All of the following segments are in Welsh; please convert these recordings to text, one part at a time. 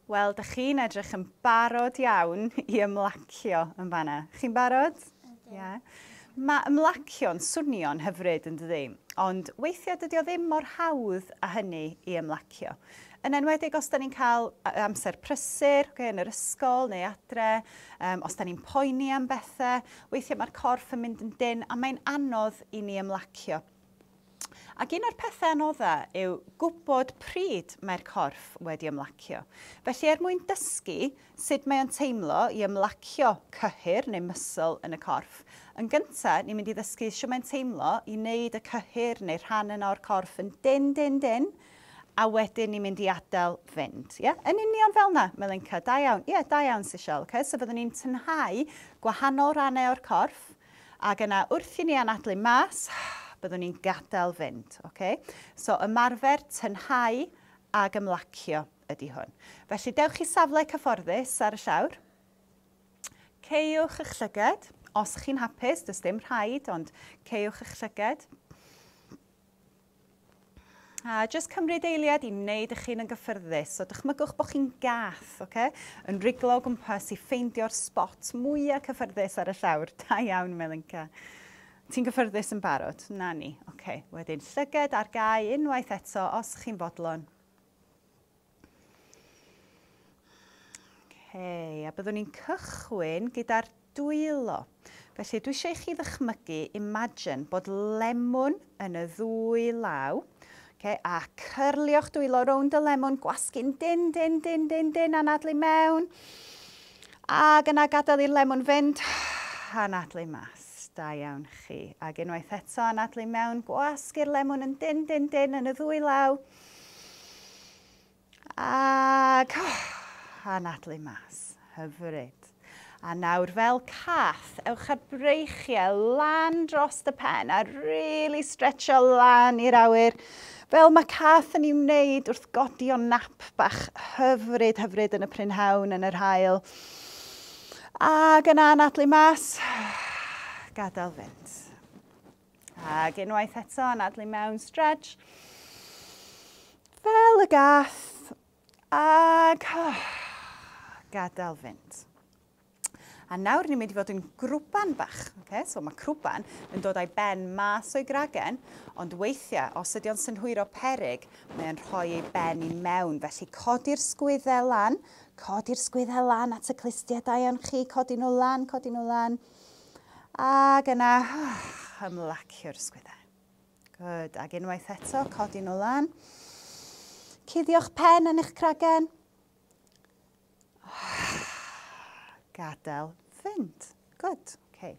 Wel, dych chi'n edrych yn barod iawn i ymlacio yn fanna. Chi'n barod? Ydw. Ie. Mae ymlacio'n swnio'n hyfryd, yn dydy? Ond weithiau dydy o ddim mor hawdd â hynny i ymlacio. Yn enwedig os da ni'n cael amser prysur, okay, yn yr ysgol neu adre, um, os da ni'n poeni am bethau, weithiau mae'r corff yn mynd yn dyn a mae'n anodd i ni ymlacio. Ac un o'r pethau anoddau yw gwybod pryd mae'r corff wedi ymlacio. Felly er mwyn dysgu sut mae o'n teimlo i ymlacio cyhyr neu muscle yn y corff, yn gyntaf ni'n mynd i ddysgu sut mae'n teimlo i wneud y cyhyr neu rhan yna o'r corff yn dynn, dynn, dynn, a wedyn ni'n mynd i adael fynd. Ie? Yn union fel 'na, Melinka. Da iawn. Ie, da iawn, Sishelle. Oce, so fyddwn ni'n tynhau gwahanol rannau o'r corff, Ac yna wrth i ni anadlu mas, byddwn ni'n gadael fynd. Ok? So ymarfer tynhau ac ymlacio ydy hwn. Felly dewch i safle cyfforddus ar y llawr. Ceiwch eich llyged. Os chi'n hapus, does dim rhaid, ond ceiwch eich llyged. A jyst cymryd eiliad i wneud eich hun yn gyffyrddus. So dychmygwch bod chi'n gath, oce? Yn riglo o gwmpas i ffeindio'r sbot mwyaf cyffyrddus ar y llawr. Da iawn, Melinka. Ti'n gyffyrddus yn barod? Na ni. Oce, wedyn llyged ar gau unwaith eto os chi'n fodlon. Okay, a byddwn ni'n cychwyn gyda'r dwylo. Felly dwi eisiau i chi ddychmygu, imagine, bod lemwn yn y ddwy law, okay, a cyrlio'ch dwylo rownd y lemwn, gwasgu'n din, din, din, din, din, anadlu mewn, ac yna gadael i'r lemwn fynd, anadlu mas, da iawn chi. Ac unwaith eto, anadlu mewn, gwasgu'r lemwn yn din, din, din, yn y ddwy law, din, Ac, oh, anadlu mas. Hyfryd. A nawr fel cath, ewch â'r breichiau lan dros y pen a really stretcho lan i'r awyr. Fel mae cath yn ei wneud wrth godi o nap bach hyfryd, hyfryd yn y prynhawn, yn yr hael. Ac yna anadlu mas, gadael fynd. Ac unwaith eto, anadlu mewn, stretch. Fel y gath. Ac gadael fynd. A nawr ni'n mynd i fod yn grwban bach. Okay? So mae crwban yn dod â'i ben mas o'i gragen, ond weithiau, os ydy o'n synhwyro perig, mae'n rhoi ei ben i mewn. Felly codi'r sgwyddau lan, codi'r sgwyddau lan at y clustiau da iawn chi, codi nhw lan, codi nhw lan. Ac yna, ymlacio'r ysgwyddau. Good. Ac unwaith eto, codi nhw lan. Cuddio'ch pen yn eich cragen. Gadael fynd. Good. Okay.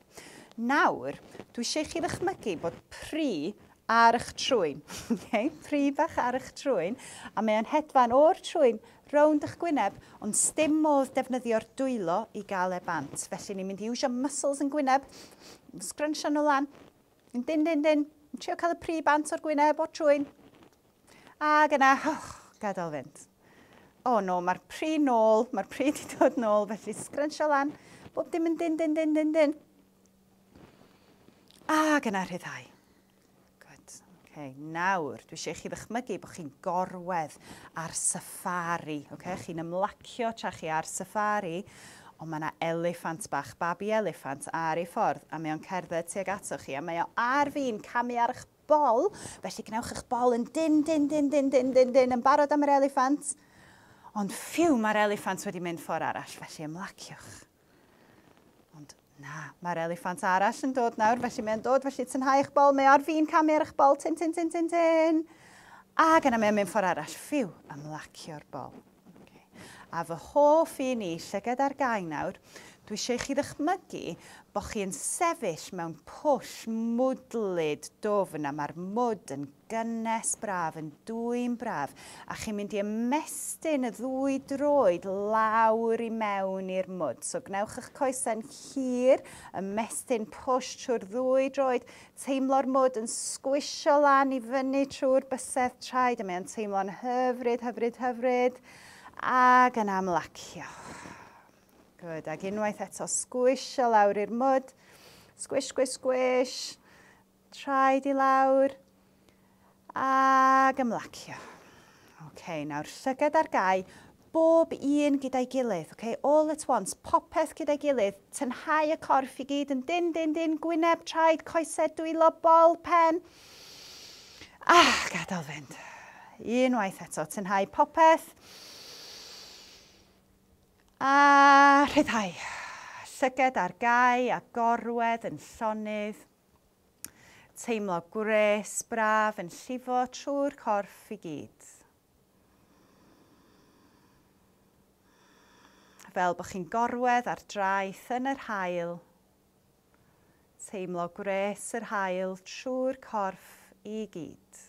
Nawr, dwi eisiau chi ddychmygu bod pri ar eich trwyn, oce, pridd bach ar eich trwyn, a mae o'n hedfan o'r trwyn rownd eich gwyneb, ond sdim modd defnyddio'r dwylo i gael e bant, felly ni'n mynd i iwsio muscles yn gwyneb, sgrynshio nhw lan, yn dyn dyn dyn, yn trio cael y pri bant o'r gwyneb, o'r trwyn, a gyna, oh, gadael fynd. O oh, no, mae'r pri nôl, mae'r pri di dod nôl, felly sgrynshio lan, bob dim yn dyn dyn dyn dyn dyn. Ac yna rhyddhau. Good. Okay. Nawr, dwi eisiau i chi ddychmygu bod chi'n gorwedd ar safari. Okay? Chi'n ymlacio tra chi ar safari, ond mae yna eliffant bach, babi eliffant, ar ei ffordd, a mae o'n cerdded tuag ato chi, a mae o ar fin camu ar eich bol, felly gwnewch eich bol yn din, din, din, din, din, din, din, yn barod am yr eliffant, ond ffiw, mae'r eliffant wedi mynd ffordd arall, felly ymlaciwch. Ond na, mae'r eliffant arall yn dod nawr, felly mae'n dod, felly tynhau eich bol, mae ar fin camu ar eich bol, tin, tin, tin, tin, tin. Ac yna mae'n mynd ffordd arall, ffiw, ymlacio'r bol. Okay. A fy hoff i ni, llygad ar gau nawr, dwi eisiau chi ddychmygu bod chi'n sefyll mewn pwll mwdlyd dofn a mae'r mwd yn gynnes braf, yn dwym braf, a chi'n mynd i ymestyn y ddwy droed lawr i mewn i'r mwd. So gwnewch eich coesau'n hir, ymestyn push trwy'r ddwy droed, teimlo'r mwd yn sgwisio lan i fyny trwy'r bysedd traed, a mae o'n teimlo'n hyfryd, hyfryd, hyfryd, ac yn amlacio. Good, ac unwaith eto sgwisio lawr i'r mwd, sgwish, sgwish, sgwish, Traed i lawr. Ac ymlacio. OK, nawr llygad ar gau, bob un gyda'i gilydd, OK, all at once, popeth gyda'i gilydd, tynhau y corff i gyd yn dyn, dyn, dyn, gwyneb, traed, coesau, dwylo, bol, pen. A gadael fynd. Unwaith eto, tynhau popeth. A rhyddhau. Llygad ar gau a gorwedd yn llonydd. Teimlo gwres, braf, yn llifo trwy'r corff i gyd. Fel bod chi'n gorwedd ar draeth yn yr hael. Teimlo gwres yr hael trwy'r corff i gyd.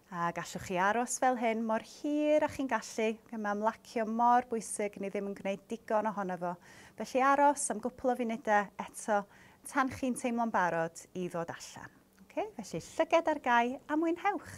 A gallwch chi aros fel hyn mor hir â chi'n gallu, gan mae ymlacio mor bwysig ni ddim yn gwneud digon ohono fo. Felly aros am gwpl o funudau eto tan chi'n teimlo'n barod i ddod allan. Ok, felly llyged ar gau a mwynhewch!